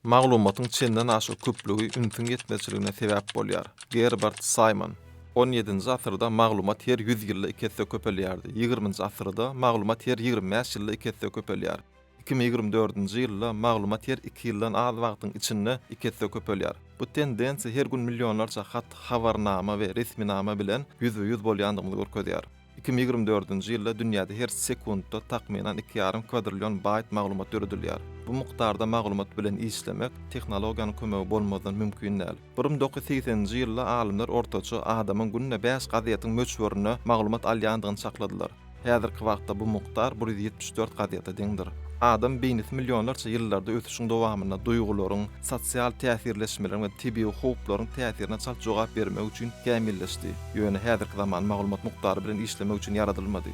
Maglumatyň çenden aşa köplügi ünsüň ýetmezçiligine sebäp bolýar. Gerbert Saýmon. On ýedinji asyrda maglumat her ýüz ýylda iki esse köpelýärdi. Ýigriminji asyrda maglumat her ýigrimi bäş ýylda iki esse köpelýär. Iki müň ýigrimi dördünji ýylda maglumat her iki ýyldan az wagtyň içinde iki esse köpelýär. Bu tendensiýa her gün millionlarça hat, habarnama we resminama bilen ýüzbe-ýüz bolýandygymyzy görkezýär. Iki müň ýigrimi dördünji ýylda dünýäde her sekuntda takmynan iki ýarym kwadrillion baýt maglumat döredilýär. Bu mukdarda maglumat bilen işlemek tehnologiýanyň kömegi bolmazdan mümkin däl. Bir müň dokuz ýüz segseninji ýylda alymlar ortaça adamyň günde bäş gazetiň möçberinde maglumat alýandygyny çakladylar. Häzirki wagtda bu mukdar bir ýüz ýetmiş dört gazete deňdir. Adam beýnisi millionlarça ýyllarda ösüşiň dowamynda duýgularyň, sosial täsirleşmeleriň we tebigy howplaryň täsirine çalt jogap bermek üçin kämilleşdi, ýöne häzirki zaman maglumat mukdary bilen işlemek üçin ýaradylmady.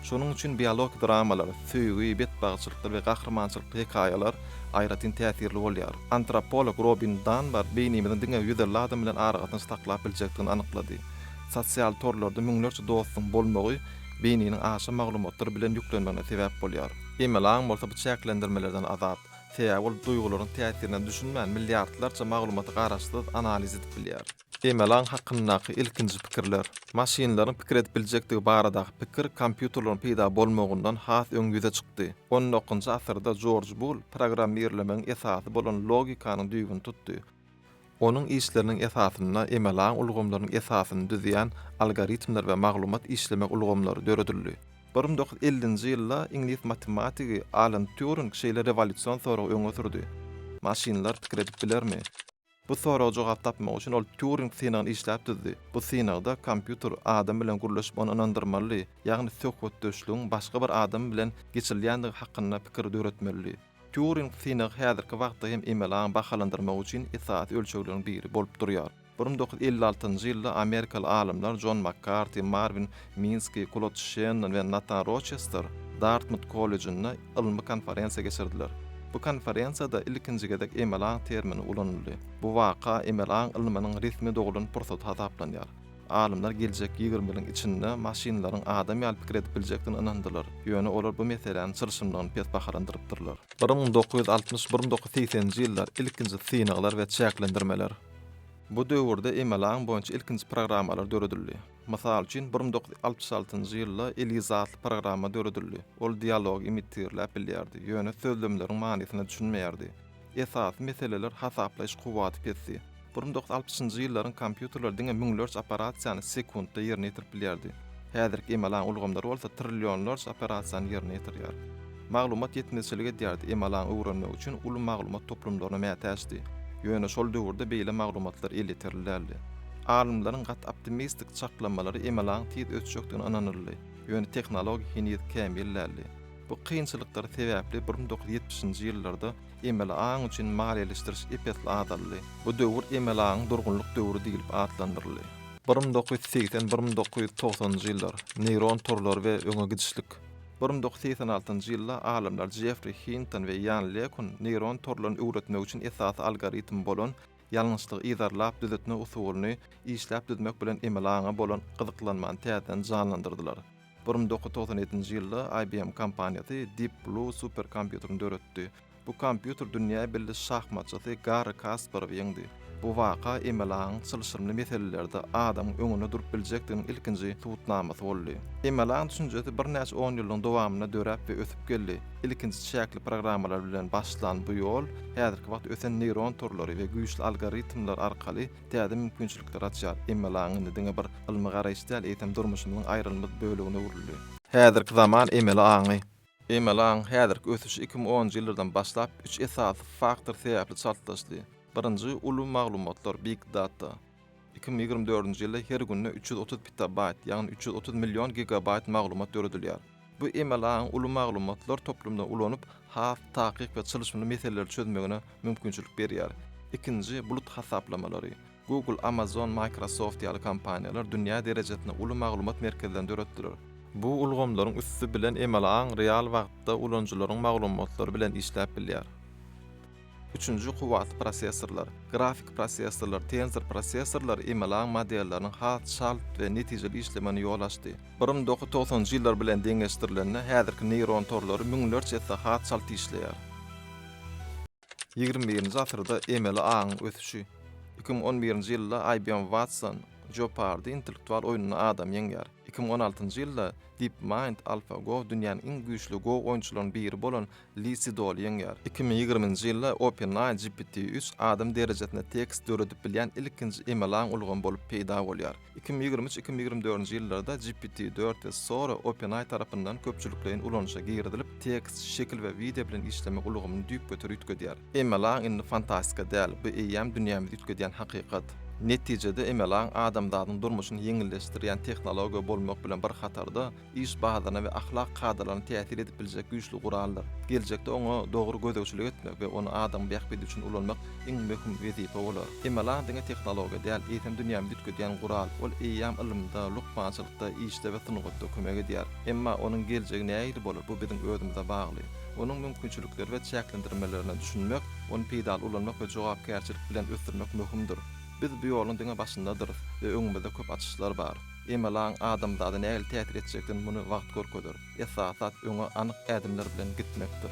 Şonuň üçin biologik dramalar, söýgi, betbagtçylykly we gahrymançylykly hekaýalar aýratyn täsirli bolýar. Antropolog Robin Danbar beýnimiziň diňe ýüz elli adam bilen aragatnaşyk saklap biljekdigini anyklady. Sosial torlarda müňlerçe dostuň bolmagy beýniniň aşa maglumatlar bilen ýüklenmegine sebäp bolýar. Emelaň bolsa bu çäklendirmelerden azat. Sebäbi ol duýgularyň täsirine düşünmän, milliardlarça maglumaty garaşsyz analiz edip bilýär. Emelaň hakyndaky ilkinji pikirler. Maşynlaryň pikir edip biljekdigi baradaky pikir kompýuterleriň peýda bolmagyndan has öň ýüze çykdy. On dokuzynjy asyrda Jorj Bull programmirlemegiň esasy bolan logikanyň düýbüni tutdy. Onuň işleriniň esasynda emalaň ulgamlarynyň esasyny düzýän algoritmler we maglumat işlemek ulgamlary döredildi. Bir müň dokuz ýüz ellinji ýylda iňlis matematigi Alan Týuring şeýle rewolýusion soragy öňe sürdi, Maşynlar pikir edip bilermi? Bu soraga jogap tapmak üçin ol Týuring synagyny işläp düzdi. Bu synagda kompýuter adam bilen gürleşip ony ynandyrmalydy, ýagny söhbetdeşligiň başga bir adam bilen geçilýändigi hakynda pikir döretmelidi. Turing synagy häzirki wagtda hem emeli aňy bahalandyrmak üçin esasy ölçegleriň biri bolup durýar. Bir müň dokuz ýüz elli altynjy ýylda amerikaly alymlar Jon Makkarti, Marwin Minski, Klod Şennon we Natan Roçester Dartmut kollejinde ylmy konferensiýa geçirdiler. Bu konferensiýada ilkinji gezek emeli aň termini ulanyldy. Bu waka emeli aň ylmynyň resmi doglan pursaty hasaplanýar. Alymlar geljek ýigrimi ýylyň içinde maşynlaryň adam ýaly pikir edip biljekdigine ynandylar, ýöne olar bu meseläniň çylşyrymlygyny pes bahalandyrypdyrlar. Bir müň dokuz ýüz altmyş, bir müň dokuz ýüz segsen nji ýyllar, ilkinji synaglar we çäklendirmeler. Bu döwürde MLA-yň boýunça ilkinji programmalar döredildi. Mysal üçin, bir müň dokuz ýüz altmyş altynjy ýylda Eliza atly programma döredildi, ol dialogy imitirläp bilýärdi, ýöne sözlemleriň manysyna düşünmeýärdi. Esasy meseleler hasaplaýyş kuwwaty pesdi. Bir müň doksan altmyşynjy ýyllaryň kompýuterleri diňe müňlerçe operasiýany sekuntda ýerine ýetirip bilýärdi. Häzirki emalaň ulgamlary bolsa trillionlarça operasiýany ýerine ýetirýär. Maglumat ýetmezçilik edýärdi, emalaň öwrenmegi üçin uly maglumat toplumlaryna mätäçdi. Ýöne şol döwürde beýle maglumatlar elýeterli däldi. Alymlaryň gaty optimistik çaklamalary emalaň tiz ösjekdigine ynanyldy, ýöne tehnologiýa heniz kämil däldi. Bu kynçylyklar sebäpli bir müň dokuz ýüz ýetmişinji ýyllarda emeli aň üçin maliýeleşdiriş ep-esli azaldy. Bu döwür emeli aňyň durgunlyk döwri diýlip atlandyryldy. Bir müň dokuz ýüz segsen, bir müň dokuz ýüz togsanynjy ýyllar, neýron torlary we öňe gidişlik. Bir müň dokuz ýüz segsen altynjy ýylda alymlar Jeffri Hinton we Ýan Lekun neýron torlaryny öwretmek üçin esasy algoritm bolan ýalňyşlygy yzarlap düzetmek usulyny işläp düzmek bilen emeli aňa bolan gyzyklanmany täzeden janlandyrdylar. Bir müň dokuz ýüz togsan ýedinji ýylda IBM kompaniýasy Deep Blue superkompýuterini döretdi. Bu kompýuter dünýä belli şahmatçysy Garri Kasparowy ýeňdi. Bu waka emelaňyň çylşyrymly meselelerde adamyň öňünde durup biljekdiginiň ilkinji subutnamasy boldy. Emelaň düşünjesi birnäçe onýyllygyň dowamynda döräp we ösüp geldi. Ilkinji çäkli programmalar bilen başlan bu ýol häzirki wagt ösen neýron torlary we güýçli algoritmler arkaly täze mümkinçilikler açýar. MLA-nyň indi diňe bir ylmy garaýyş däl, eýsem durmuşymyzyň aýrylmaz bölegine öwrüldi. Häzirki zaman MLA-ny. MLA-nyň häzirki ösüşi iki müň onunjy ýyllardan başlap üç esasy faktor sebäpli çaltlaşdy. Birinji, uly maglumatlar, big data. Iki müň ýigrimi dördünji ýylda her günde üç ýüz otuz petabaýt, ýagny üç ýüz otuz million gigabaýt maglumat döredilýär. Bu emel aň uly maglumatlar toplumyny ulanyp, has takyk we çylşyrymly meseleleri çözmegine mümkinçilik berýär. Ikinji, bulut hasaplamalary. Google, Amazon, Microsoft ýaly kompaniýalar dünýä derejesinde uly maglumat merkezlerini döretdiler. Bu ulgamlaryň üsti bilen emel aň real wagtda ulanyjylaryň maglumatlary bilen işläp bilýär. Üçünji kuwwatly prosessorlar, grafik prosessorlar, tensor prosessorlar emelaň modelleriniň has çalt we netijeli işlemegine ýol açdy. Bir nji dokuz togsanjy ýyllar bilen deňeşdirilende, häzirki neýron torlary müňlerçe esse has çalt işleýär. Ýigrimi birinji asyrda emeli aňyň ösüşi. Iki müň on birinji ýylda IBM Watson, Jeopardy intellektual oýnunda adamy ýeňýär. Iki müň on altynjy ýylda DeepMind, AlphaGo dünýäniň iň güýçli Go oýunçylarynyň biri bolan Li Sidol ýeňýär. Iki müň ýigriminji ýylda OpenAI GPT üç adam derejesinde tekst döredip bilýän ilkinji emeli aň ulgamy bolup peýda bolýar. Iki müň ýigrimi üç-iki müň ýigrimi dördünji ýyllarda GPT dört we Sora OpenAI tarapyndan köpçülikleýin ulanyşa girizilip, tekst, şekil we wideo bilen işlemek ulgamyny düýpgöter üýtgedýär. Emeli aň indi fantastika däl, bu eýýäm dünýämizi üýtgedýän hakykat. Netijede, emeli aň adamzadyň durmuşyny ýeňilleşdirýän tehnologiýa bolmak bilen bir hatarda, iş bahasyna we ahlak kadalaryna täsir edip biljek güýçli guraldyr. Geljekde oňa dogry gözegçilik etmek we ony adamyň bähbidi üçin ulanmak iň möhüm wezipe bolar. MLA diňe tehnologiýa däl, eýsem dünýämizi üýtgedýän gural. Ol eýýäm ylymda, lukmançylykda, işde we sungatda kömek edýär. Emma onuň geljegi nähili bolar, bu biziň özümize bagly. Onuň mümkinçilikleri we çäklendirmelerine düşünmek, ony peýdaly ulanmak we jogapkärçilik bilen ösdürmek möhümdir. Biz bu ýoluň diňe başyndadyrys we öňümizde köp açyşlar bar. Emelaň adamzada nähili täsir etjekdigini muny wagt görkezer. Esasy zat öňe anyk ädimler bilen gitmekdir.